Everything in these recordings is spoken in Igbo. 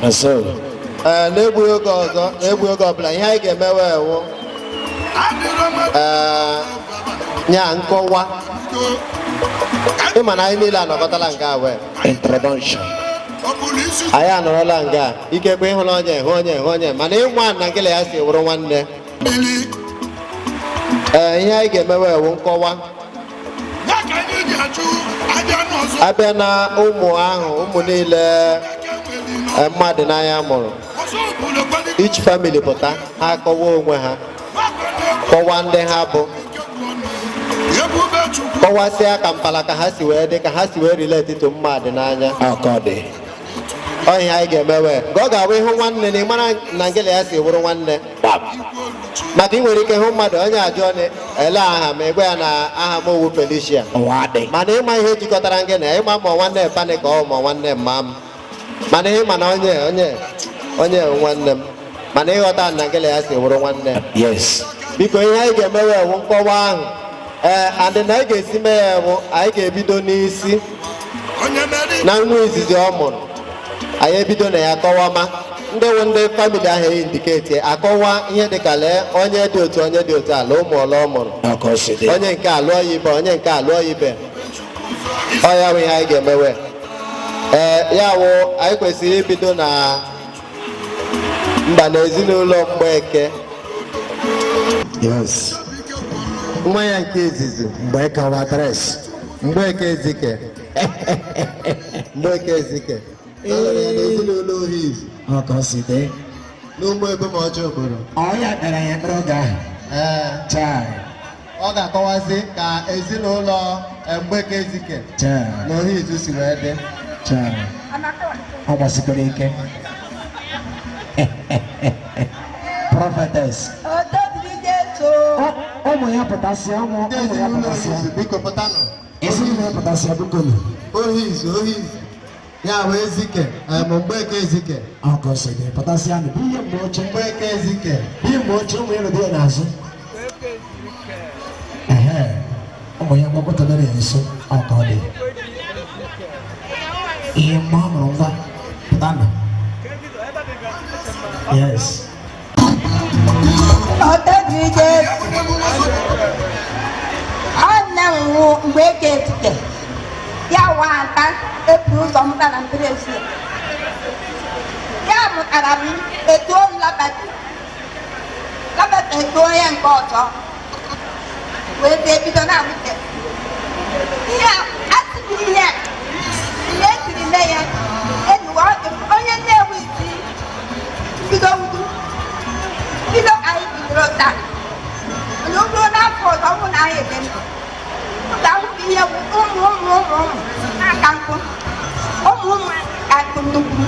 So. Ee, n'egbughị oge ọzọ n'egbughị oge ọbụla ihe anyị ga-emewe wụ ee nye a nkọwa ịma na anyị niile anọkọtala nga a wee Introduction. anyị anọrọla nga a. ikekwe ịhụla onye hụ onye hụ onye mana ịma na ngele ya si wụrụ nwanne ee ihe anyị ga-emewe wụ nkọwa a bịa na ụmụ ahụ ụmụ niile eh, Mmadịnanya mụrụ each family pụta ha kọwa onwe ha kọwa ndị ha bụ kọwasịa ka mpala ka ha si wee dị ka ha si wee relate to Mmadịnanya ọ ihe anyị ga-emewe ka ọ ga-abụ ịhụ nwanne na ịmara na ngele ya si wụrụ nwanne maka ị nwere ike hụ mmadụ onye ajụọ ele aha m agwa ya na aha m ọ wụ Felicia mana ịma ihe jikọtara gị na ịma ma nwanne pa gị ka ọ ma nwanne mma m mana ihe mana onye onye onye nwanne m mana ịghọta na ngele ya si wụrụ nwanne biko ihe anyị ga-emewe wụ nkọwa ahụ ee adị na anyị ga-esi mee ya bụ anyị ga-ebido n'isi na nwa izizi ọ mụrụ anyị ebido na ya kọwama ndị wụ ndị family ahụ e indicate akọwa ihe dịka lee onye dị otu onye dị otu a la ụmụ ole ọ mụrụ onye nke alụọ ya ibe onye nke alụọ ya ibe ọ ya bụ ihe anyị ga-emewe ee ya wụ anyị kwesịrị ibido na mba na ezinụlọ Mgbeke yes nwa ya nke izizi Mgbeke wa adres Mgbeke Ezike Mgbeke Ezike alụrụ ya na ezinụlọ Ohizu Okoside n'ụmụ ebe ma ọjọọ obodo ọ ya kpere ya kpere oge ahụ ee chai ọ ga-akọwazi ka ezinụlọ Mgbeke Ezike na Ohizu si wee dị ọ gbasikwara ike prophetess ụmụ ya pụtasịa ụmụ ya pụtasịa ezinụlọ ya pụtasịa bikonu Ohizu Ohizu ya bụ Ezike em, Mgbeke Ezike Okoside pụtasịa nụ ihe mgbe oche Mgbeke Ezike ihe mgbe oche ụmụ ịlụ dị ya n'azụ ehe ụmụ ya gbakọtara ya nso ọka ọ dị ihe mma ọ mụrụ ngwa pụta nụ yes Mgbeke Ezike ya wụ ada e bu ụzọ mụta na mpere ezie ya mụtara m etu o labata labata etuo ya nke ọzọ wee bịa bido na-amụte ihe a atụghị ihe mgbe e siri mee ya enuwe ọdụ onye nnewi si bido wudu bido ka anyị bidoro taa mana o ruo n'afọ ọzọ ọ wụ na anyị ede ndụ ọ ga-ahụta ihe bụ ụmụ ụmụ ụmụ ụmụ na-aka nkụ ụmụ ụmụ ka nkụ nnukwu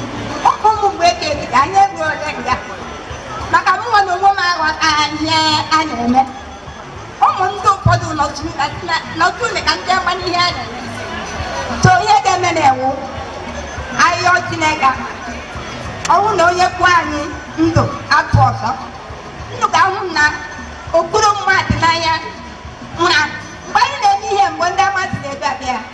ụmụ ụmụ Mgbeke Ezike anyị eruo ole nga maka mụnwa na onwe m aghọta ihe a na-eme ụmụ ndị ụfọdụ nọtụ ule ka ndị ama n'ihe a na-eme so ihe ga-eme na-enwu ahịhịa Chineke ọ wụ na o nyekwuo anyị ndụ afọ ọzọ unu ga-ahụ na okpuru Mmadịnanya na mgbe anyị na-eme ihe mgbe ndị amasị na-ebe abịa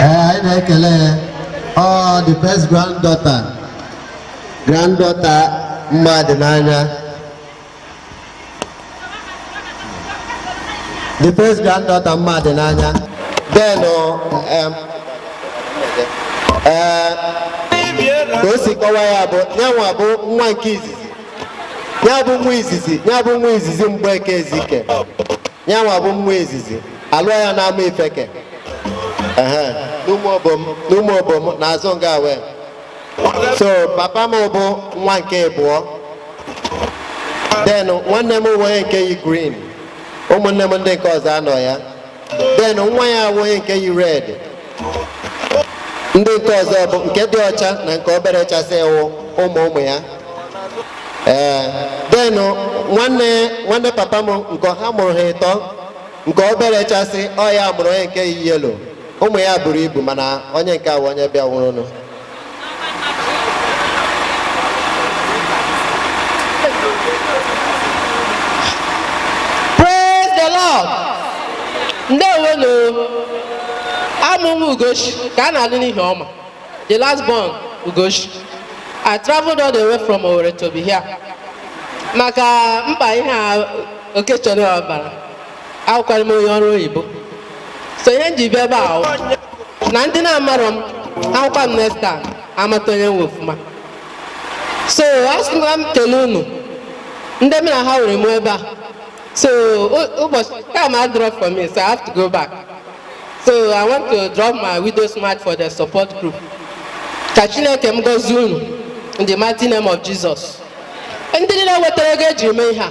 ee anyị na-ekele ọ the first granddaughter granddaughter Mmadịnanya the first granddaughter Mmadịnanya then um, ee ka o si kọwa ya bụ nyanwa bụ nwa nke izizi ya bụ nwa izizi ya bụ nwa izizi Mgbeke Ezike ya nwa bụ nwa izizi alụọ ya n'Amaifeke ehe n'Ụmụobom n'Ụmụobom n'azụ nga wee so papa m bụ nwa nke abụọ then nwanne m onye nke yi green ụmụnne m ndị nke ọzọ anọ ya then nwa ya awụ onye nke yi red ndị nke ọzọ bụ nke dị ọcha na nke obere chasị wụ ụmụ ụmụ ya ee then nwanne nwanne papa m nke ha mụrụ ha ịtọ nke obere chasị ọ ya mụrụ onye nke yi yellow ụmụ ya buru ibu mana onye nke a wụ onye bịanwurunụ Praise the Lord. Ndewonu. Awụ m nwa Ugochi ka a na-alụ n'Ihioma. The last born Ugochi. I traveled all the way from Owerri to be here. Maka mkpa ihe a Okechọrọ ọbara. awụkwa m onye ọrụ oyibo so ihe m ji bịa ebe a wụ na ndị na-amarọ m ahụkwa m next time amata onye m wụ ọfụma so asị m ka m kele unu ndị m na ha nwere m ebe a so ụ- ụbọchị time adịrọ for me so i have to go back so i want to drop my widow's mite for the support group ka chineke m gọzie unu in the mighty name of jesus ndị niile wetara ego e ji mee ihe a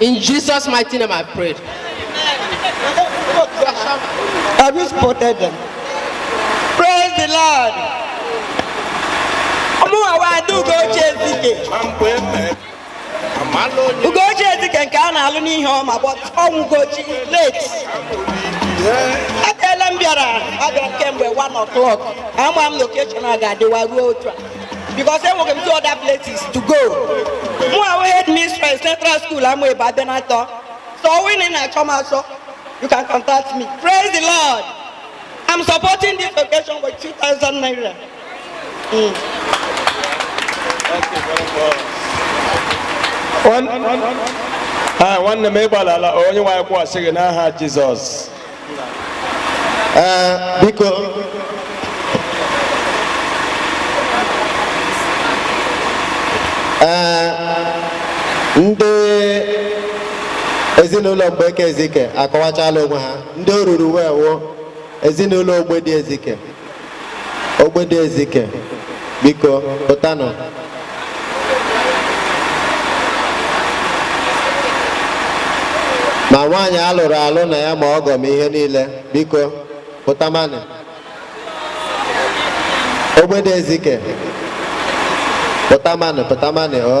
In Jesus' mighty name I prayed. Have you spotted them? Praise the Lord. Ugochi Ezike nke a na-alụ n'ihe ọma but Ugochi late. Abịala m bịara abịa kemgbe 1 o'clock. Ama m na occasion a ga-adịwa ruo otu a. because enwere m two other places to go mụ wụ headmistress central school amaebu ebenatọ so onye na-achọ m achọ you can contact me praise the lord i'm supporting this occasion with 2000 naira mm. nwanne m ịgbalala onye nwe anyị kwụghachi gị n'aha jizọs ee biko ee ndị ezinụlọ mgbeke ezike akọwachala onwe ha ndị o ruru wee wụ ezinụlọ ogbedi ezike Ogbedi Ezike, biko pụtanụ. Ma nwaanyị a lụrụ alụ na ya ma ọgọ m ihe niile, biko pụtamanụ. Ogbedi Ezike, pụtamanụ pụtamanụ o.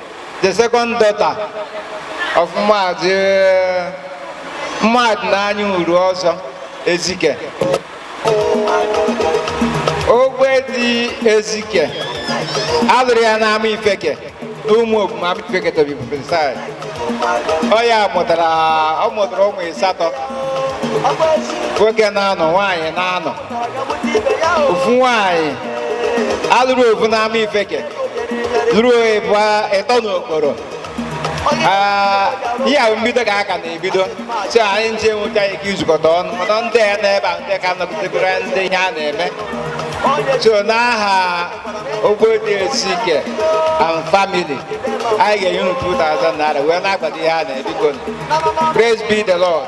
the second daughter of Maazị Mmadịnanya Uruọzọ Ezike Ogbedi Ezike a lụrụ ya n'Amaifeke n'Ụmụobom Amaifeke to be precise ọ ya mụtara ọ mụtara ụmụ ịsatọ nwoke na-anọ nwaanyị na-anọ ofu nwaanyị a lụrụ ofu n'amaifeke lụrụ ee ịtọ n'okporo Ah, ihe a wụ mbido ka a ka na-ebido so anyị nche nweta ike izukọta ọnụ mana ndị ya n'ebe a ndị ka nọgidegoro ndị ihe a na-eme so n'aha ogbedi ezike and family anyị ga-enye unu 2000 naira wee na-akwado ihe a na-ebido praise be the lord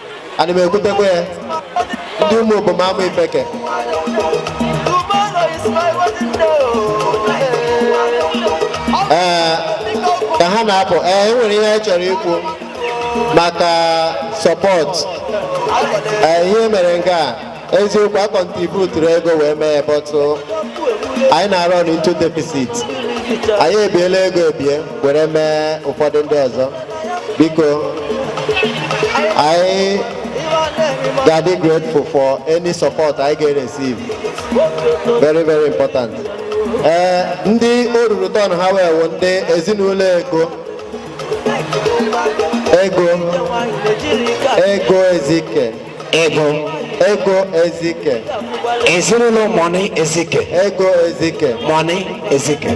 ana m ekwutekwa ya ndị ụmụobom amaifeke ee ka ha na-apụ ee e nwere ihe anyị chọrọ ikwu maka sọpọt ee ihe e mere nga eziokwu a kọntributuru ego wee mee but anyị na-arọn into deficit anyị ebiela ego ebie were mee ụfọdụ ndị ọzọ biko anyị ga-adị grateful for any support anyị ga-receive very very important ee ndị o ruru turn ha wee wụ ndị ezinụlọ ego ego ego ezike Ego. Ego Ezike. Ezinụlọ Mọni Ezike. Ego Ezike. Mọni Ezike.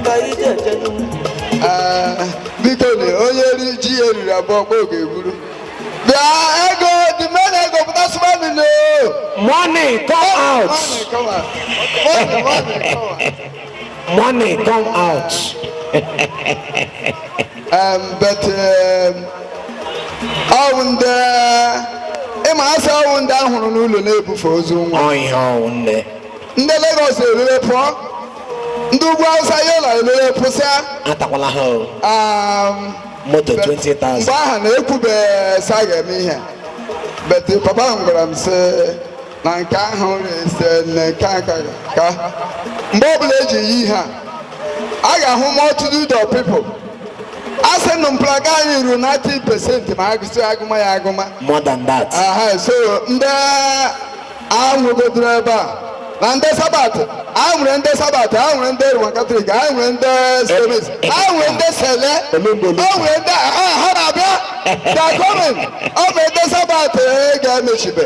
Ah, biko na onye ri ji ya eriri abụọ kpọọ ga-eburu bịa ego dị mee na ego pụta sụba nile Money come out. Money, come on. Money, money, come on. Money come out. um, but um, ọ wụ ndị ị ma a sị ọ wụ ndị a hụrụ n'ụlọ na-ebufe ozu nwa Ọhịa ọ wụ nne. ndị Lagos erere pụọ ndị ugwu Hausa yola erere pụsịa Atakwala ha o. um, Moto but 20,000. mgbe ahụ a na-ekwube sị a ga-eme ihe but papa m gwara m sị na nke ahụ rese na nke a ka ka mgbe ọbụla e ji yi ihe a ga-ahụ multitude of people a sị na mpụlaga anyị ruru 90 pesenti ma a gụsị a gụma ya a gụma more than that aha so ndị a hụgodoro ebe a na ndị sabat a nwere ndị sabat a nwere ndị roman katọlik a nwere ndị CMS a nwere ndị sele a nwere ndị ha ha na-abịa they are coming ọ bụ ndị sabat ga-emechibe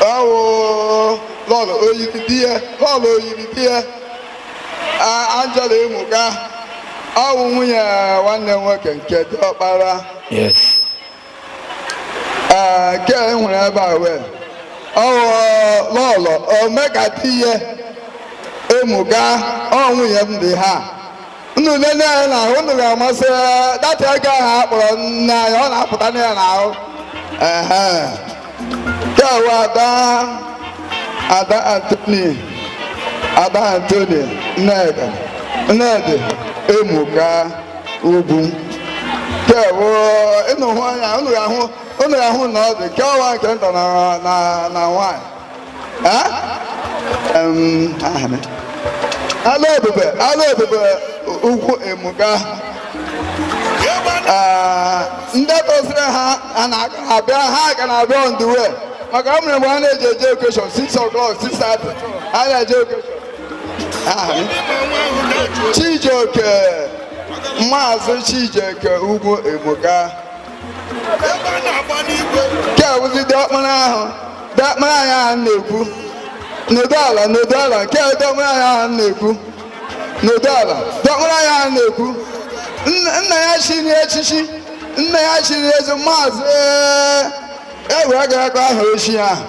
Ọ wụ lọlọ oyiri di ya lọlọ oyiri di ya A- Angela Emuka ọ wụ nwunye nwanne m nwoke nke diọkpara Yes. Ee, nke e nwere ebe a wee ọ wụ lọlọ ome ka di ya Emuka ọ nwunye m dị ha unu nene ya na ahụ unu ga-ama sị that ego ahụ a kpọrọ nne anyị ọ na-apụta na ya n'ahụ ehe ya wụ ada ada antoni ada antoni nnedi nnedi emuka ugwu ya wụ unu hụ anya unu ga-ahụ unu ga-ahụ na ọ dị kewa nke nta na na na nwaanyị ala ebube ala ebube ugwu emuka ndị tosiri ha abịa ha ka na-abịa on the way maka o mere mgbe a na-eji eje okeshọn 6 o'clock 6:30 a na-eje okeshọn Chijioke Maazị Chijioke Ugwu Emuka nke a bụzi diọkpara ahụ diọkpara anyị ahụ na-ekwu n'odo ala n'odo ala nke a diọkpara anyị ahụ na-ekwu n'odo ala diọkpara anyị ahụ na-ekwu nna ya chiri echichi nna ya chiri eze maazị e wee garakwa aha o chi ahụ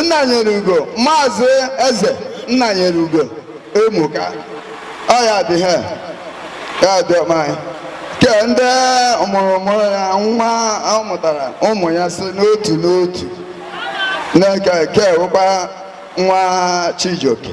nna nyere ugo maazị eze nna nyere ugo emuka ọ ya dị ha ya dị ọma anyị ke ndị ọ mụrụ ụmụ ya nwa ọ mụtara ụmụ ya si n'otu n'otu nke ke wụkwa nwa chijioke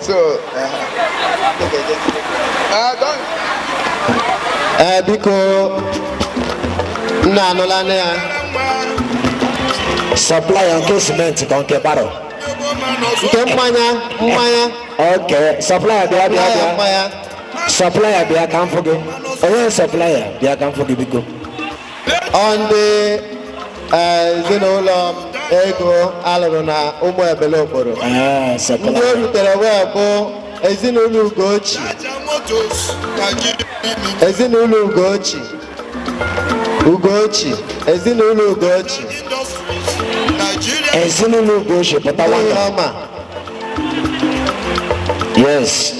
So, uh, okay, okay. Uh, don't. ee eh, biko nna anụla anya ya supplier nke cement ka nke baro nke mmanya mmanya okay supplier bịa bịa bịa mmanya supplier bịa ka m fụ gị onye supplier bịa ka m fụ gị biko ndị eh, ezinụlọ ego alụrụ na ụmụ ebele okporo Ah, ndị Sokola. o rutere wee bụ ezinụlọ ugochi ezinụlọ ugochi ugochi ezinụlọ ugochi Ezinụlọ Ugochi pụta nwanyị ọma yes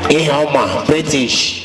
ihe ọma British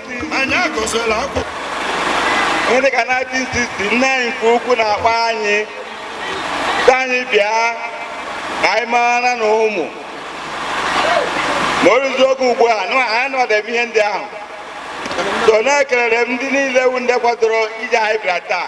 anyị agụsịla akwụkwọ dị ka na 1969 nke ukwu na-akpọ anyị sị anyị bịa ka anyị mara na ụmụ ma o ruzi oge ugbu a nụ anyị nọdebe ihe ndị ahụ so na-ekelere m ndị niile wu ndị kwadoro ije anyị bịara taa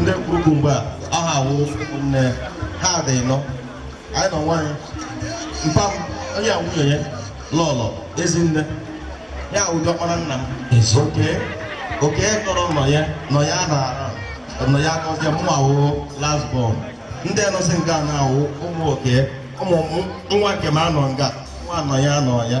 ndị kwuru mgbe a aha awụ nne ha dị nọ anyị nọ nwaanyị mpa m onye a nwunye ya lọlọ ezinne ya awụ diọkpara nna m oke oke tọrọ nọ ya nọ ya na nọ ya akọzie mụ awụ last born ndị nọsị nga na-awụ ụmụ oke ụmụ nwa nke m anọ nga nwa nọ ya nọ ya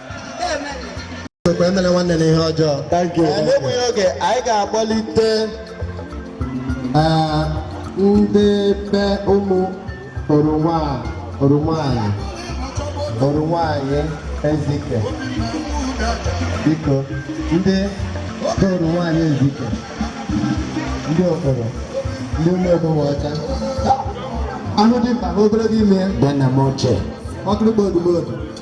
Chukwu emela nwanne na ihe ọjọọ. Thank you. Ee, N'egbughị oge, anyị ga-akpọlite ee, ndị be ụmụ oroma Orunwanyị Orunwanyị ezike biko ndị be Orunwanyị ezike ndị okporo ndị ụmụ ogbenwe ọcha a hụ dimkpa na ogologo imi ya Bịa nna m ochie. ọkụrụkpa odumodu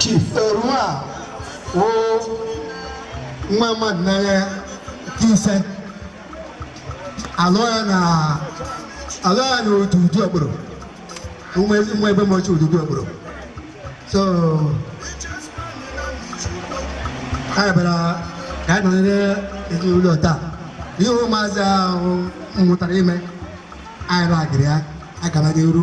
chief Erua wụ nwa mmadụ n'anya nke ise alụ ya na alụ ya na Ududu Okporo nwa ezi nwa ebe mochi Ududu Okporo so anyị bịara ka anyị nọnyere ezinụlọ taa ihe ụmụazị ahụ mụtara ime anyị ragịrị ya agara n'iru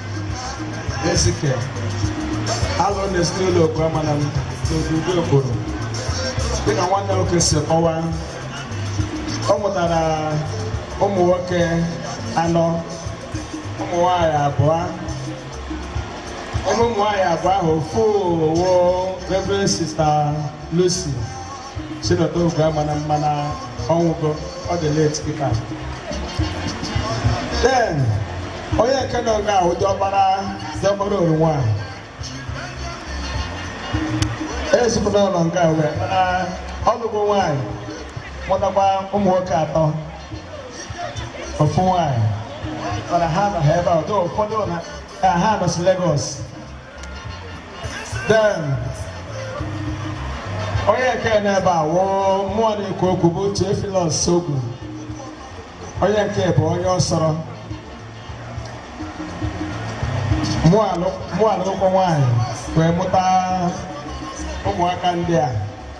Ezike alụ n'ezinụlọ Oguamanam n'obodo Okporo dịka nwanne nwoke si kọwaa ọ mụtara ụmụ nwoke anọ ụmụ nwanyị abụọ ebe ụmụ nwanyị abụọ ahụ ofu wụ Reverend Sista Lucy sinda Oguamanam mana ọ nwụgo ọ dị late kịta then onye nke nọ nga wụ diọkpara diọkpara Orunwa ezipụta ụlọ nga wee mana ọ lụgo nwaanyị mụtakwa ụmụ nwoke atọ ofu nwaanyị mana ha anọha ebe a ụfọdụ na ha nọsị Lagos then onye nke nọ ebe a wụ mụwa na-ekwu okwu bụ Theophilus Ogu onye nke bụ onye ọ sọrọ mụ alụkwọ nwaanyị wee mụta ụmụaka ndị a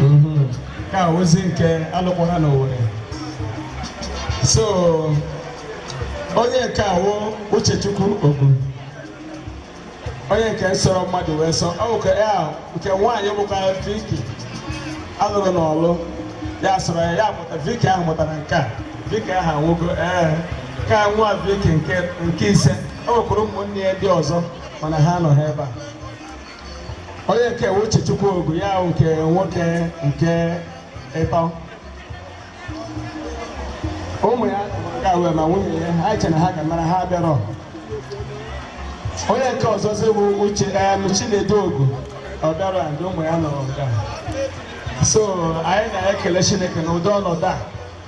mhm. ka ozi nke alụkwa ha n'Owerri so onye nke a wụ Uchechukwu Ogu onye nke nsọrọ mmadụ wee sọ ọ bụkwa ya nke nwaanyị bụkwa Viki alụrụ n'Ọlụ ya sọrọ ya mụta Viki ahụ mụtara nke a Viki ahụ anwụgo ee nke a nwa Viki nke ise o nwekwara ụmụnne ya ndị ọzọ mana ha anọha ebe a onye nke a wụ Uchechukwu Ogu ya wụ nke nwoke nke ịtọ ụmụ ya ga wee ma nwunye ya ha chere na ha ga-amara ha bịara onye nke ọzọzi bụ uche em Chinedu Ogu ọ bịara ndị ụmụ ya nọrọ nga so anyị na-ekele Chineke na ụdị ọnọdụ a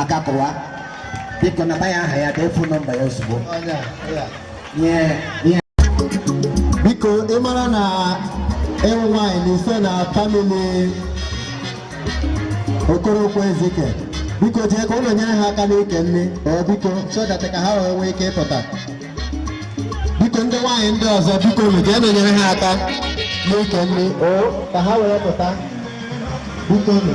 aka kụwa biko nata ya aha ya dee fon nọmba ya ozugbo biko ị mara na ị wụ nwaanyị na ife na famili Okorokwo Ezike biko jee ka unu nyere ha aka n'ike nni ee biko so that ka ha wee nwee ike ịpụta biko ndị nwaanyị ndị ọzọ biko unu jeenu nyere ha aka n'ike nni o ka ha wee pụta biko unu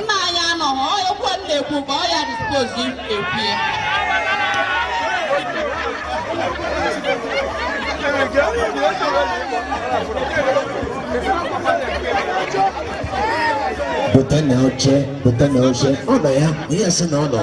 nna anyị anọghị okwu m na-ekwu ka ọ ya dispozi ekwue pụta na oche pụta na oche ọ nọ ya onye sị na ọ nọ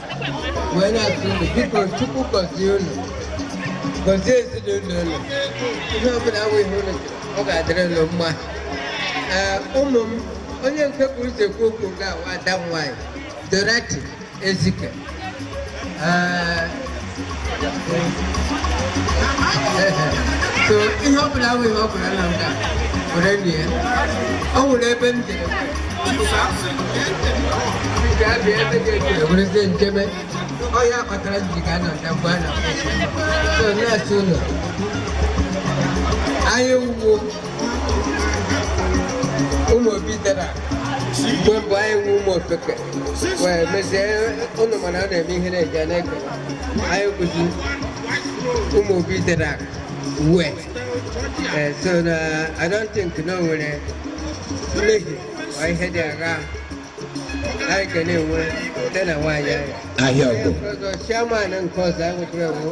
wee na-asị unu biko chukwu gọzie unu gọzie ezinụlọ unu ihe ọbụla awụ ihe unu ọ ga-adịrị unu mma ee ụmụ m onye nke bu ụzọ ekwu okwu ga-awụ ada m nwaanyị dorothy ezike ee so ihe ọ bụla awụ ihe ọ bụla na nga were lie ya. o nwere ebe m jere bịa bịa ebe dị etu ya werezie nchebe ọ ya kpatara m ji ga anọ na mgbe a na so na-asị ụlọ anyị wụ ụmụ obi dara mgbe mbụ anyị wụ ụmụ ofeke wee mezie ụnụ mana a na-eme ihe na-eji na-ekele anyị bụzi ụmụ obi dara uwe eh, so na I don't think na o nwere mmehie ma ihe dị agha anyị ga na-enwe site na nwaanyị anyị ahịa ọgụ ọzọ chairman nke ọzọ anyị nwekwara ewu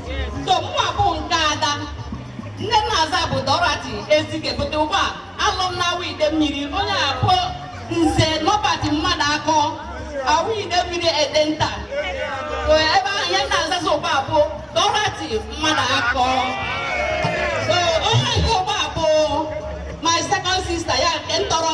so mụwa bụ nke ada nne m na-aza bụ dorothy ezike but ugbu a a lụ m na awo idemmiri onye a bụ nze norbert mmadụakọ awo idemmiri edenta so ebe ahụ ihe m na-azazi ugbu a bụ dorothy mmadụakọ so onye nke ugbu a bụ my second sister ya nke m tọrọ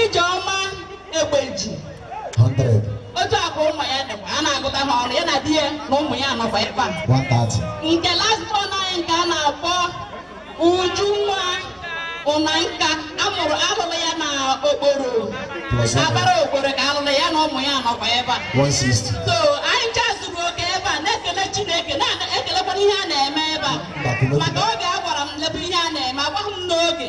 Ijeọma Egbeji otu a ka ụmụ ya dịkwa a na-agụta ha ọnụ ya na di ya na ụmụ ya nọkwa ebe a nke last born anyị nke a na-akpọ Ujunwa Ụnanka amụrụ alụrụ ya na Okporo Abara Okporo ka alụrụ ya na ụmụ ya nọkwa ebe a so anyị ncha zuru oke ebe a na-ekele Chineke na-ekelekwana ihe a na-eme ebe a maka oge a gwara m lebe ihe a na-eme agwaghị m n'oge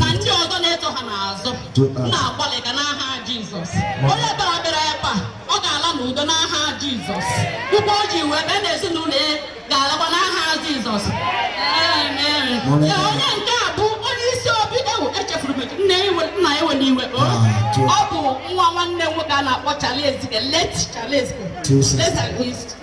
na ndị ọzọ na-eto ha n'azụ na-agbalị ka n'aha Jizọs onye bịara bịara ebe a ọ ga-ala n'udo n'aha Jizọs ụkwụ o ji wee bịa na ezinụlọ ya ga-alakwa n'aha Jizọs onye nke a bụ onye isi obi ewu echefuru m nna ewena iwe ọ bụ nwa nwanne nwoke a na-akpọ Charles Ezike late Charles Ezike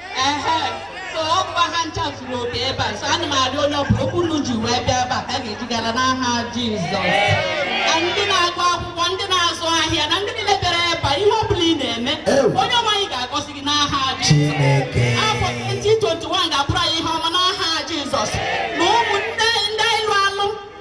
ehe so ọ bụkwa ha ncha zuru oke ebe a so ana m arịọ onye ọbụla ụkwụ unu ji wee bịa ebe a ka a ga-eji ala n'aha jizọs na ndị na-agụ akwụkwọ ndị na-azụ ahịa na ndị niile bịara ebe a ihe ọbụla ị na-eme onye nwe anyị ga-agọzi gị n'aha jizọs afọ 2021 ga-abụrụ anyị ihe ọma n'aha jizọs na ụmụnne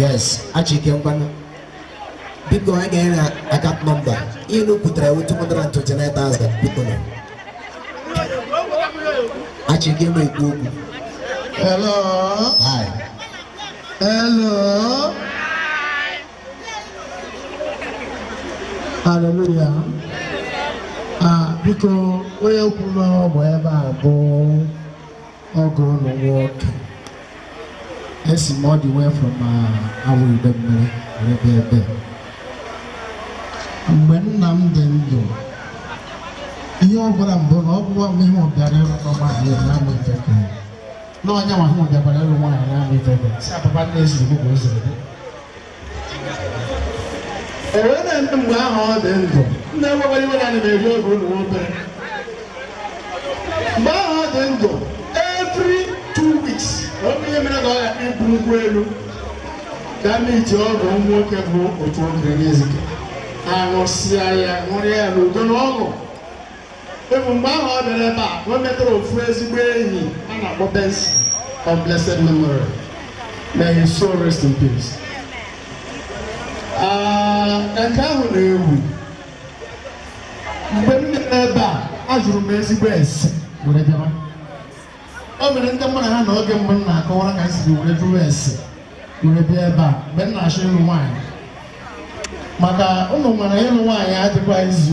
yes achike ngwanụ biko anyị ga-enye na akat nọmba ihe na kwutere ewu 229,000 biko na achike ma ekwu okwu Hello. Hi. Hello. Hallelujah. Ah, biko onye kwuru na ọ bụ ebe a bụ ọgọ unu nwoke esi m ọdị wee from uh, Awo Idemili ebe ebe mgbe nna m dị ndụ ihe ọ gwara m bụ na ọ bụwa mgbe ihe ọ bịara ịlụ nwaanyị n'Amaifeke na onye ma ihe bịakwara ịlụ nwaanyị n'Amaifeke si apapa nne ezi igbo ka o ziri ewere ndị mgbe ahụ ọ dị ndụ unu ewekwala iwe na ana m eri oge unu obere mgbe ahụ ọ dị ndụ every two weeks na ọ bụ ihe mere ka ọ ga ibu nkwụ elu ga meet ọgọ nwoke bụ Otuokere Ezike a ṅụsịa ya ṅụrịa ya n'udo na ọṅụ Ọ bụ mgbe ahụ ọ bịara ebe a ka o metara ofu ezigbo enyi a na-akpọ Benson of blessed memory. May his soul rest in peace. Ah, Ka nke ahụ na-ewu mgbe m nọ n'ebe a ajụrụ m ezigbo ese were bịawa o mere ndị mmadụ ha na oge mgbe m na-akọwara ka m siri were jụrụ ese were bịa ebe a mgbe m na-achọ ịlụ nwaanyị maka unu mara ịlụ nwaanyị adịkwa easy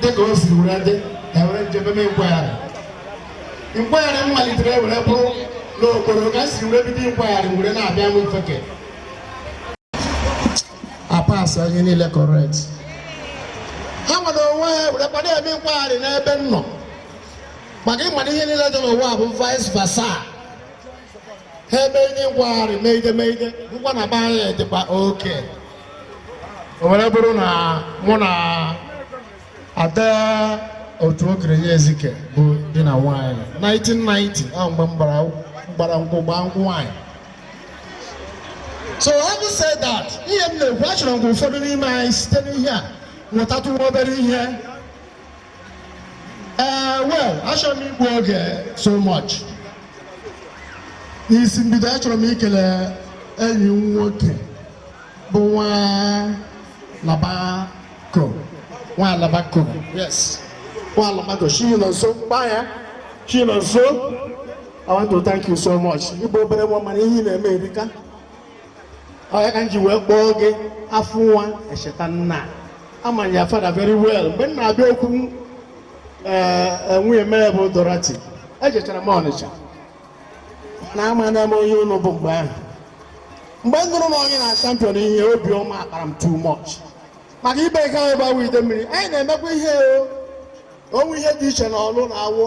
dịka o siri were dị ka were njem m nkwagharị nkwagharị m malitere were bụrụ n'Okporo ka si were bido nkwagharị were na-abịa Amaifeke a pass ihe niile correct ha nwere onwe ha were kwado eme nkwagharị n'ebe m nọ maka ị mara ihe niile dị n'ụwa bụ vice versa ha eme ihe nkwagharị megide megide hụkwa na be anyị dịkwa okay o were bụrụ na mụ na ada Otuokere Ezike bụ di na nwaanyị 1990 ahụ mgbe m gbara nkwụ gbaa nkwụ nwaanyị so having said that ihe m na-ekwu achọrọ m ka ụfọdụ n'ime anyị site n'ihe a mụtatụ nwa obere ihe ee eh, well achọrọ m igbu oge so much n'isi mbido achọrọ m ikele enyi m nwoke bụ nwa alabako nwa alabako yes nwa alabako Chinọnso kpa ya Chinọnso I want to thank you so much. Ị bụ obere nwa mana ihe ị na-eme erika. ọ ya ka m ji wee kpọọ gị afụ nwa echeta nna ama m your father very well mgbe m na-abịa okwu ee nwunye m bụ Dorothy ejechara m Ọnịcha mana amana m onye unu bụ mgbe ahụ mgbe m nụrụ na onye na champion ihe obiọma akpara m too much maka ibe nke anyị bụ Awọ Idemmiri anyị na-emekwa ihe o o nwe ihe dị iche na Ọlụ na Awọ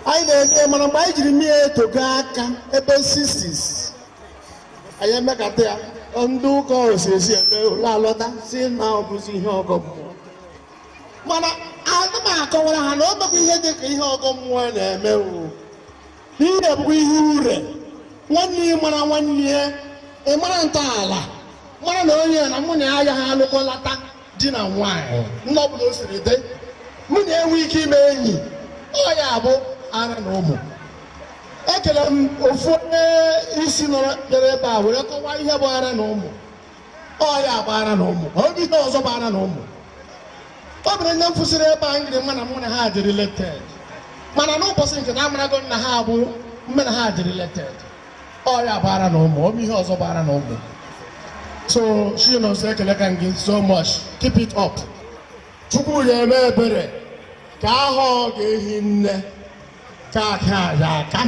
anyị na-eme mana mgbe anyị jiri mee etego aka ebe sixties anyị emekata ya ndị ụka esi seminar alọta sị na ọ bụzi ihe ọgọ mmụọ mana ana m akọwara ha na ọ bụghị ihe dị ka ihe ọgọ mmụọ na-eme o ihe bụkwa ihe ure nwanne ị mara nwanne ya ị mara ntọala mara na onye na mụ na ya agaghị alụkọlata di na nwaanyị nne ọ bụla o siri dị mụ na ya enwe ike ime enyi ọ ya bụ ara na ụmụ ekele m ofu onye isi nọrọ bịara ebe a were kọwaa ihe bụ ara na ụmụ ọ ya bụ ara na ụmụ ọ bụ ihe ọzọ bụ ara na ụmụ ọ bụrụ ndị m fụsịrị ebe a ngiri ma na mụ na ha dị related mana n'ụbọchị nke a amarago m na ha bụ mụ na ha dị related ọ ya bụ ara na ụmụ ọ bụ ihe ọzọ bụ ara na ụmụ so Chinọnsọ ekelekwa m gị so much keep it up chukwu ya eme ebere ka ahụ ọ ga-ehi nne ka aka ya aka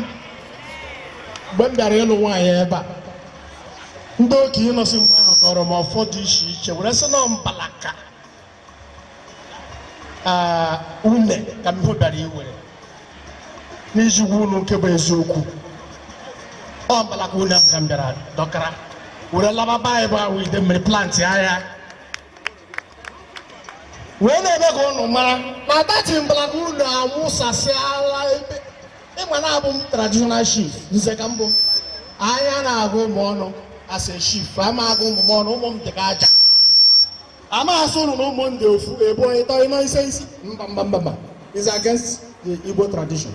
mgbe m bịara ịlụ nwaanyị ebe a ndị okenye nọsị mgbe ahụ gọrọ m ọfọ dị iche iche were sị na mbalaka une ka m bịara iwere n'iji gwa unu nke bụ eziokwu ọ mbalaka une ahụ ka m bịara dọkara were laba be anyị bụ Awọ Idemmiri plantịa ya wee na-eme ka ụnụ mara na that mbalaka une amụsasịala ebe ị ma na abụ m traditional chief nze ka m bụ anaghị agụ ụmụ ọnụ as a chief ama agụ ụmụ m ọnụ ụmụ m dị ka aja ama asị ụnụ na ụmụ m dị ofu ebo ịtọ ịnọ ise isii mba mba mba mba is against the Igbo tradition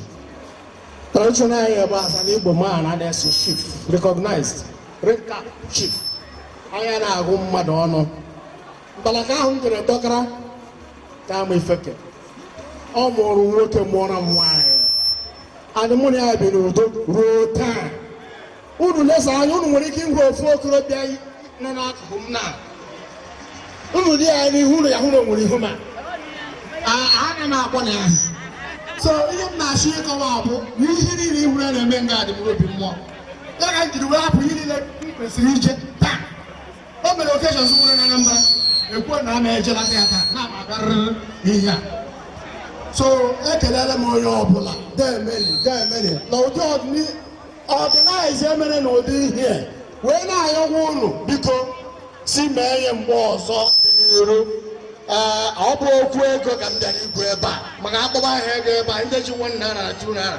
tradition anyị ebe a as an Igbo man and as a chief recognized red cap chief anaghị agụ mmadụ ọnụ mbalaka ahụ m jere dọkara ka ama ifeke ọ mụrụ nwoke mụọrọ m nwaanyị and mụ na ya bi n'udo ruo taa unu lesa anya unu nwere ike ịhụ ofu okorobịa nọ n'akụkụ m na unu dị ya n'ihu unu ya ahụ na o nwere ihu m ana m akpọ na ya so ihe m na-achọ ịkọwa bụ na ihe niile ị hụrụ a na-eme nga adịmụrụ obi mmụọ ya ka m jiri wee hapụ ihe niile m kwesịrị ije taa o nwere occasion m nwere na Anambra ekwuo na ama ejelata ya taa na amagarịrị ihe a so ekele m onye ọbụla demeli demeli na ụdị organize e mere na ụdị ihe wee na-ayọkwa ụnụ biko si mee ihe mgbe ọzọ n'iru ee ọ bụ okwu ego ka m bịara ikwu ebe a maka a kpọba aha ego ebe a ndị ji one naira na two naira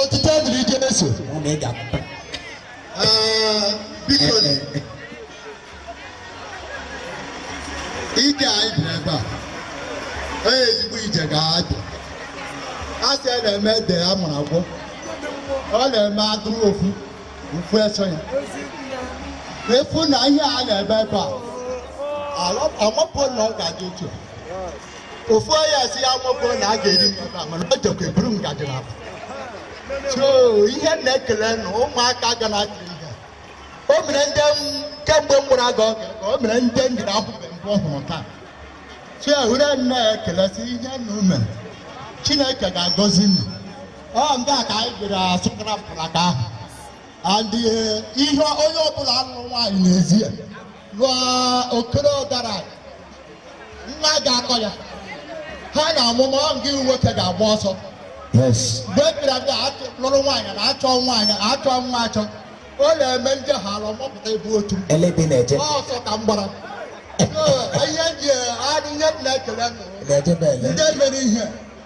Otito dịrị Jesu. Ọ na ị ga-apụta. Ee, biko na ije anyị bịara ebe a onye ezigbo ije ga-abịa a sị ya na-eme ede ya mụrụ agwọ ọ na-eme atụrụ ofu ofu eso ya efu na ihe a na-eme ebe a amapụ na ọ ga-adị otu a. ofu onye asị ya nwoke na a ga-eri n'ebe a mana o jekwa eburu ngaji n'akpa so ihe m na-ekele na ụmụaka ga na-akiri ihe o mere ndị kemgbe m gwara gị oge ka o mere ndị m jiri ahụbe mbụ ọhụrụ taa so ya were na-ekele sị ihe ụnụ mee Chineke ga-agọzi ụnụ ọ nga ka anyị bịara asụkara mpụraka ahụ and ihe onye ọbụla lụrụ nwaanyị n'ezie lụọ okoro ọdara nwa ga-akọ ya ha na ọmụmụ ọ gị nwoke ga-agba ọsọ mgbe e bịara bịa lụrụ nwaanyị na-achọ nwaanyị achọ nwa achọ ọ na-eme ndị ha alụ mọpụta ebe otu ọsọ ka m gbara ihe ndị a ihe m na-ekele ndị mere ihe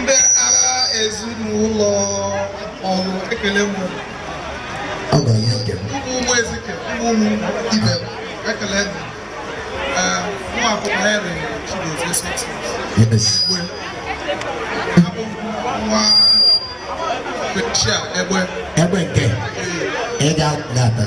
ndị agha ezinụlọ ọrụ ekele m ụmụ ụmụ ezike ụmụ ụmụ ibe ekele m ụmụ akwụkwọ Henry Chigozie Success Igwe abụ nwa Bechia egbe egbe nke ị ga-ata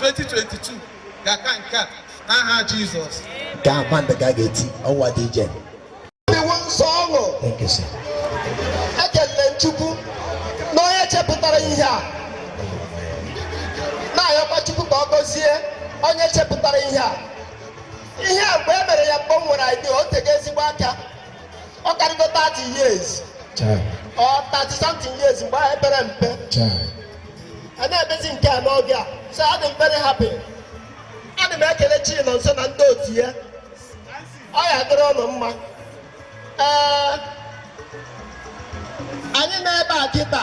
2022 ga-aka nke a n'aha Jizọs ka akwa ndị ga ga-eti ọnwa dị ije iwu nsọ ọṅụ ekelere m Chukwu na onye chepụtara ihe a na-ayọkwa Chukwu ka ọ gọzie onye chepụtara ihe a ihe a mgbe e mere ya mgbe m nwere idea o tego ezigbo aka ọ karịgo 30 years or 30 something years mgbe ahụ e pere mpe a na-emezi nke a n'oge a so adị m very happy ana m ekele Chinonso na ndị otu ya ọ ya-adịrị ụnụ mma ee anyị nọ ebe a kịta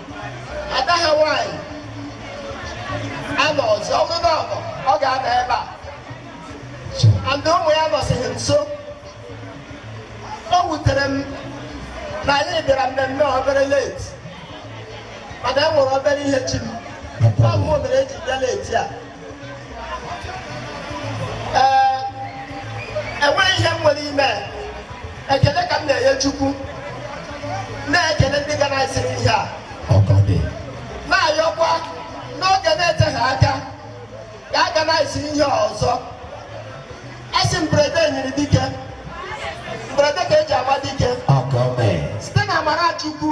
ada anyị nwaanyị anọ ọzọ ọ bụrụ na ọ nọ ọ ga-anọ ebe a and ụmụ ya nọsịghị nso o wutere m na anyị bịara mmemme obere late mana e nwere obere ihe chi m ọ bụ mere eji bịa late a enweghị ihe m nwere ime ekele ka m na-enye Chukwu na-ekele ndị organiziri ihe a na-ayọkwa n'oge na-eteghị aka ka a organize ihe ọzọ a sị mberede nyiri dike mberede ka eji ama dike site n'amara Chukwu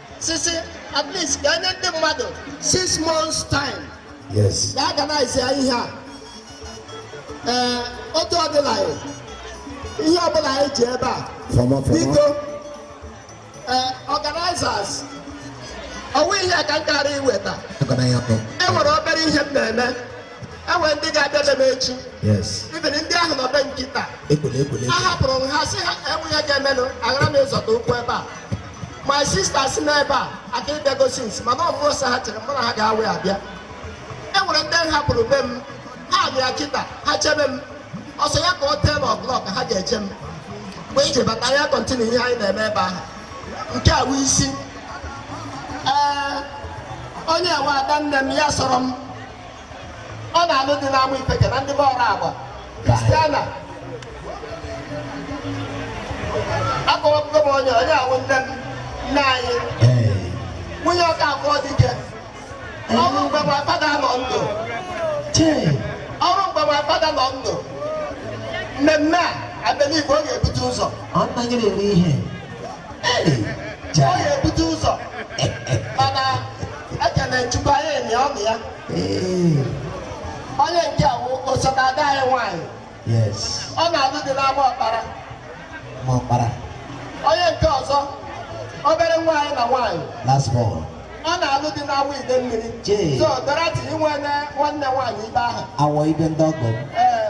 sisi at least ka enye ndị mmadụ six months time yes ka a organize ihe a ee otu ọ dịla ya ihe ọ bụla anyị ji ebe a biko ee organizers o nwe ihe ka m gara iweta e nwere obere ihe m na-eme e nwere ndị ga-abịa be m echi yes even ndị ahụ nọ be m kịta a hapụrụ m ha sị ha enweghị ihe ga-emenụ aghara m ịzọta ụkwụ ebe a my sister si n'ebe a aka ịbịa gosi nsi mana ọmụọ sọ ha chere mụ na ha ga-awe abịa e nwere ndị m hapụrụ be m ha bịa kịta ha chebe m ọ sọ ya ka ọ ten o'clock ha ga-eche m mgbe m ji bata anyị continue ihe anyị na-eme ebe ahụ nke a wụ isi ee onye a wụ ada nne m ya soro m ọ na-alụ di n'ama ifeke na ndị be ọrụ agba kristiana akọwapụgo m onye a wụ nne m nne anyị nwunye Ọkafọ dike ọ bụrụ mgbe my father nọ ndụ ọ bụrụ mgbe my father nọ ndụ mmemme a I believe ọ ga-ebute ụzọ ọ naghị na-eri ihe ọ ga-ebute ụzọ mana ekele chukwu anyị emi ọnụ ya onye nke a wụ osote ada anyị nwaanyị ọ na-alụ di n'ama ọkpara ọkpara onye nke ọzọ obere nwaanyị na nwaanyị ọ na-alụ di n'Awo Idemmiri so Dorothy inwe nwanne nwaanyị ibe ahụ awọ ibe ndị ọgọ ee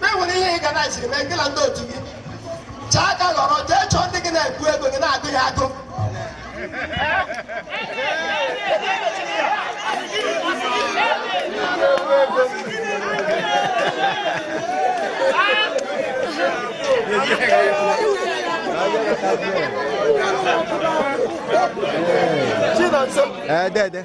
ma e nwere ihe ị organiziri mee gị na ndị otu gị chaa aka ghọrọ jee chọọ ndị gị na-ekwu ego gị na-agụ ya agụ Ee, dede.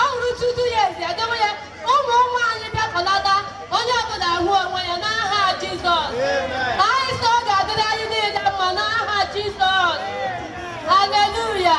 ọ hụrụ tutu ya ezi edewe ya ụmụ nwaanyị bịakọlata onye ọbụla ahụ onwe ya n'aha Jizọs anyị sị ọ ga-adịrị anyị niile mma n'aha Jizọs haleluya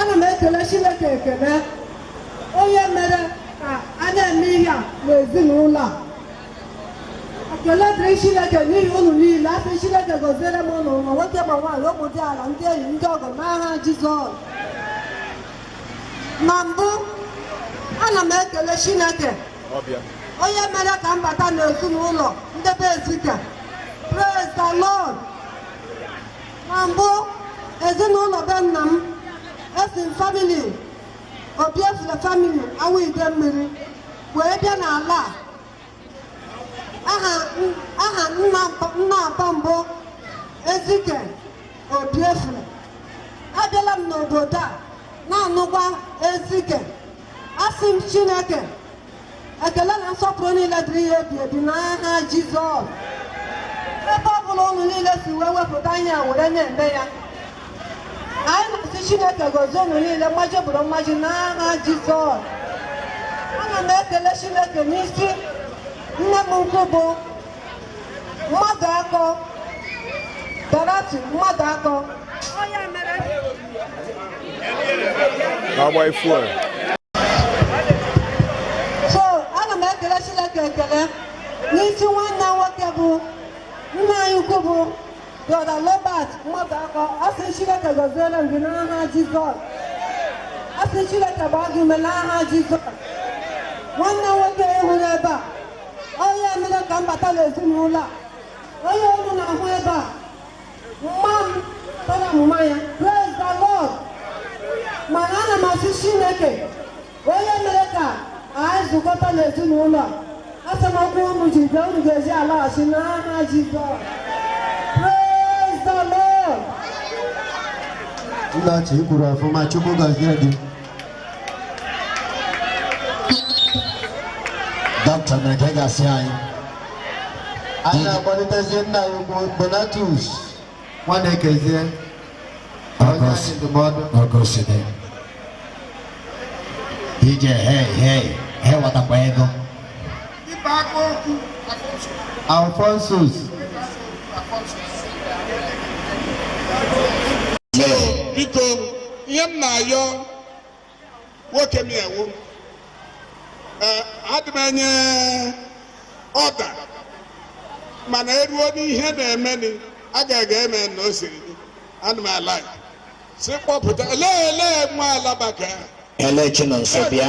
ana m ekele Chineke ekele onye mere ka a na-eme ihe a n'ezinụlọ a ekele dịrị Chineke n'ihi unu niile asị Chineke gọziere m unu ma nwoke ma nwaanyị ụmụ diala ndị enyi ndị ọgọ n'aha Jizọs na mbụ ana m ekele Chineke onye mere ka m bata n'ezinụlọ nde be Ezike praise the Lord na mbụ ezinụlọ be nna m esi m family Obiefule family Awo Idemili wee bịa n'ala a. aha n- aha nna mpa- nna apa m bụ Ezike Obiefule abịala m n'obodo a na-anụkwa Ezike asị m Chineke ekele na nsọpụrụ niile dịrị ya ebi ebi n'aha Jizọs ebe ọ bụla ụnụ niile si wee wepụta ihe a were na-eme ya anyị na-asị Chineke gọzie ụnụ niile mmaji bụrụ mmaji n'aha Jizọs ana m ekele Chineke n'isi nne m ukwu bụ Mmadụakọ Dorothy Mmadụakọ na-agba ifu a so ana m ekele Chineke ekele n'isi nwanne nwoke bụ nna anyị ukwu bụ brother Robert Mmadụakọ asị Chineke gọziere m gị n'aha Jizọs asị Chineke gbaa gị ume n'aha Jizọs nwanne nwoke ị hụrụ ebe a onye mere ka m bata n'ezinụlọ a onye unu na-ahụ ebe a mma m tara mma ya praise the lord mana ana m asị Chineke onye mere ka anyị zụkọta n'ezinụlọ a asị m ụkwụ unu ji bịa unu ga-eji alaghachi n'aha Jizọs praise the lord Nna chi kwuru ọfụma Chukwu gọzie gị. dọkịta mere ka ị ga-asị anyị anyị na-akpọlitezie nna anyị ukwu Donatus Nwanekezie onye anyị ndụmọdụ ọgọside ije hei hei hewatakwa ego Alphonsus. biko ihe m na-ayọ nwoke m ewu eh, adị m enye order mana eruo n'ihe na-emeni a ga-aga eme na o siri dị adị m ala sị kpọpụta lee lee nwa alabaka Ele Chinonso bịa.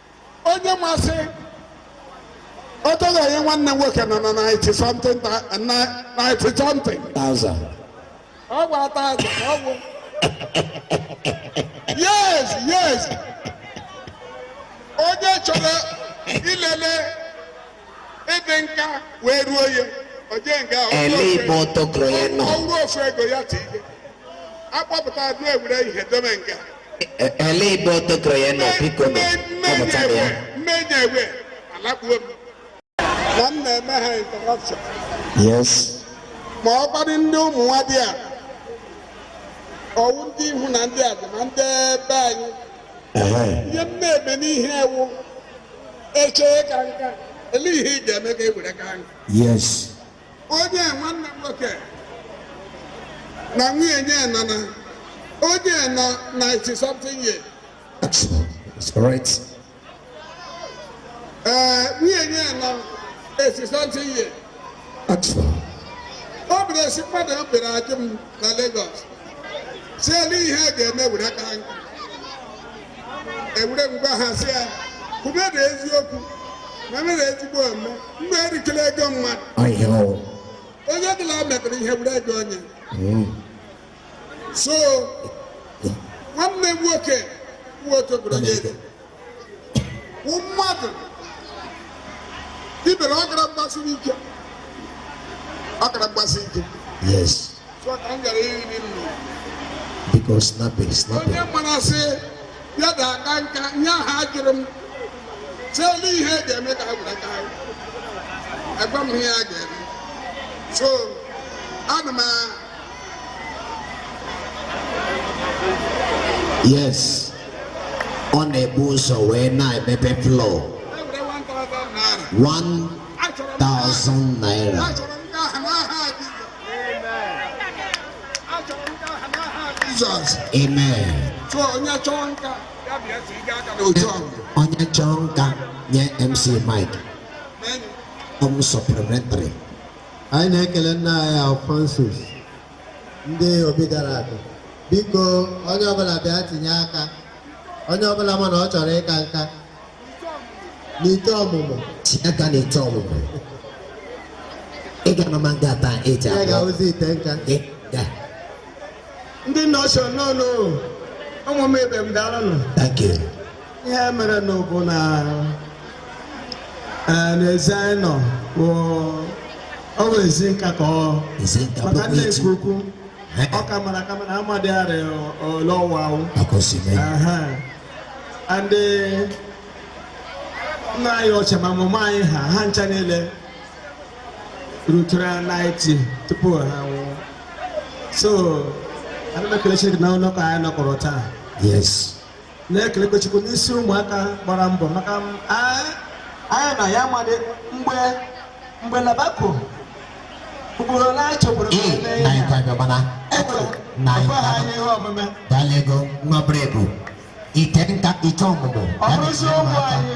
onye masị otoghị nwanne nwoke nọ na 90 something ta- na- 90 something Thousand. ọ bụ a thousand ka ọ bụ yes yes onye chọrọ ilele ịdị nka wee ruo ya o je nga ele igbo tokoro ya nọ ọrụ ofu ego ya tinye a kpọpụta adụ e were ihe dome nga E- ele igbo tokoro ya nọ biko nọ kpọpụta ya mmenya ewe alakpuo m na m na-eme ha interruption yes ma ọ kwadị ndị ụmụ nwa dị a ọ wụ ndị ihu na ndị adị ma ndị be anyị Ehe. ihe m na-eme n'ihe ewu echee ka nka ele ihe ị ga-eme ka e were ka nka Yes. onye nwanne m nwoke na nwunye ya nọ na onye nọ 90 something years That's correct. Eh, nwunye ya nọ 80 something years. Ọ bụrụ esi mmadụ m bere ajụ m na Lagos. Sị ele ihe a ga-eme were ka nka. E were m gwa ha sị ya, kwube na eziokwu, ma mere ezigbo ome, mma erikela ego mmadụ. Ayo. Onye ọbụla metere ihe were ego onye. Mm. So, nwanne m nwoke, nwa otu ọ bụrụ onye eze. mmadụ ibere ọ gara mgbasiri ike ọ gara mgbasi ike yes so ka m gara iri nri biko snape snape onye mara sị ya da aka nka nye ha jụrụ m sị ele ihe a ga-eme ka ha were ka nka agwa m ihe a ga-eme so ana m yes ọ na-ebu ụzọ wee na-emepe floor 1000 naira Jesus. Amen. So onye chọọ nka ya bịa tiga aka n'otu ahụ. Onye chọọ nka nye MC Mike. Ọ bụ supplementary. anyị na-ekele nna anyị Alphonsus ndị obi gara aga biko onye ọbụla bịa tinye aka onye ọbụla ma na ọ chọrọ ịka nka n'ite ọmụmụ tinye aka n'ite ọmụmụ ị ga-anọma nga ata eji ya ga-awụzi ite nka ị ga ndị nọshọn nọ n'ụmụ m ibe m daalụ nụ thank you ihe merenụ bụ na eh, n'ezi anyị nọ bụ ọ bụ ezi nka ka ọ ezi nka maka bụkwa nne echi nke ukwu Eh, ọ ka mara aka mana amadị arọ ole ọwa awụ maka o si mee Aha. and eh, nna anyị ochie ma mama anyị ha ha ncha niile rutere 90 tupu ha nwụọ so ana m ekele Chineke na ụlọ ka anyị nọkọrọ taa yes na-ekelekwa Chukwu n'isi ụmụaka gbara mbọ maka m anyị anyị na ya amadị mgbe mgbe labako ugboro ole anyị chekwara ka anyị mee ihe anyị a. kwabịa mana Ekwere, na anyị ọkwa ha anyị ihe omume dala ego nwa bụrụ ebu ite nka ite ọmụmụ ọ bụrụzi ụmụ anyị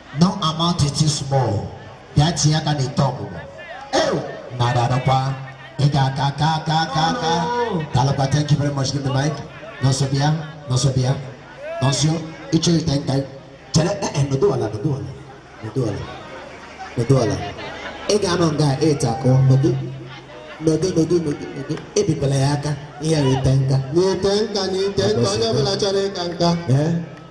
no amount is too small bịa tinye aka n'ite ọmụmụ ew nada adakwa ị ga-aka aka aka aka aka dalụkwa thank you very much give the mic Nọnso bịa Nọnso bịa Nọnso ịchọ ite nka chere eh, eh, nọdụ ala nọdụ ala nọdụ ala nọdụ ala ị ga-anọ nga ete akụ nọdụ nọdụ nọdụ nọdụ nọdụ ebikwala ya aka ihe ite nka N'ite nka n'ite nka onye ọbụla chọrọ ịka nka. ee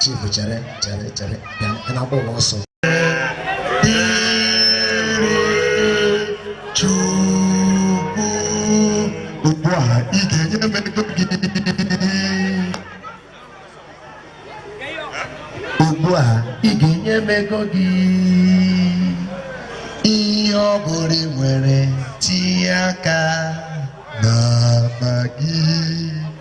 chief chere chere chere bịa ị na-agba ụwa ọsọ ugbu a ị ga-enye m ego gị ugbu a ị ga-enye m ego gị ihe ọ bụla ị nwere tinye aka n'akpa gị